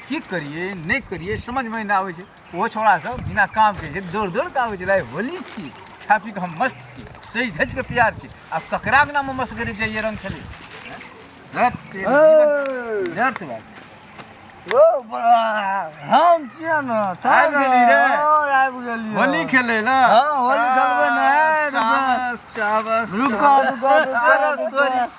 की करिए नहि करिए समझमे नहि आबै छै ओहो छौड़ासभ बिना कामके जे दौड़ दौड़ कऽ आबै छै लाइ होली छी खा पी कऽ हम मस्त छी सजि धजि कऽ तैयार छी आब ककरा बिना हम मस्त करै चाहिए रंग खेले हम छियै ने आबि गेली रे आबि गेली होली खेले ला होली खेलबै ने रुको रुको रुको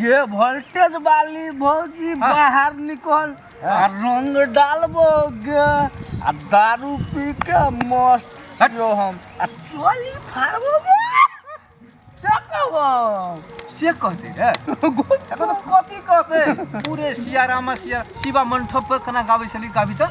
गे वोल्टेज वाली भौजी हाँ। बाहर निकल हाँ। आ रंग डालबो गे आ दारू पी के मस्त छियो हम आ चोली फाड़बो गे से कहब से कहते रे एखन कथी कहते पूरे सिया रामा सिया शिवा मंठप पर कना गाबै छली गाबी तऽ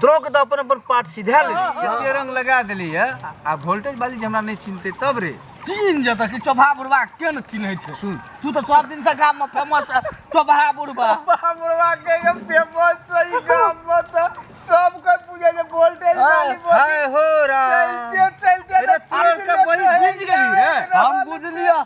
द्रोक तऽ अपन अपन पार्ट सिधा लेली केते रंग लगा देली है आ वोल्टेज वाली जे हमरा नहीं चिन्हते तब रे तीन जतऽ कि चोभा बुढ़वा के ने चिन्है छै सुन तू तऽ सब दिन से गाम में फेमस चोभा बुढ़वा चोभा बुढ़वा के के फेमस छै गाम में तऽ सब कोई पूजे जे वोल्टेज वाली हाय हो रा चलते चलते चोर के बड़ी बुझ गेली रे हम बुझलिया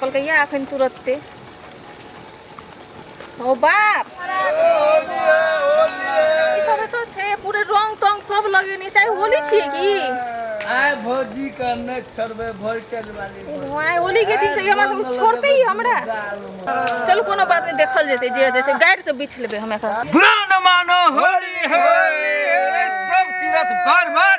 कहलकै या अखन तुरत्ते ओ बाप ई सब एतऽ छै पूरे रंग तंग सब लगेने चाहे होली छियै की आय भौजी का नहि छोड़बै वोल्टेज वाली भाय होली के दिन से ई हमरा सब छोड़ते ही हमरा चल कोनो बात नहीं देखल जेते जे जैसे गाइड से बीछ लेबे हम एकरा बुरा न मानो होली है सब तीरथ बार बार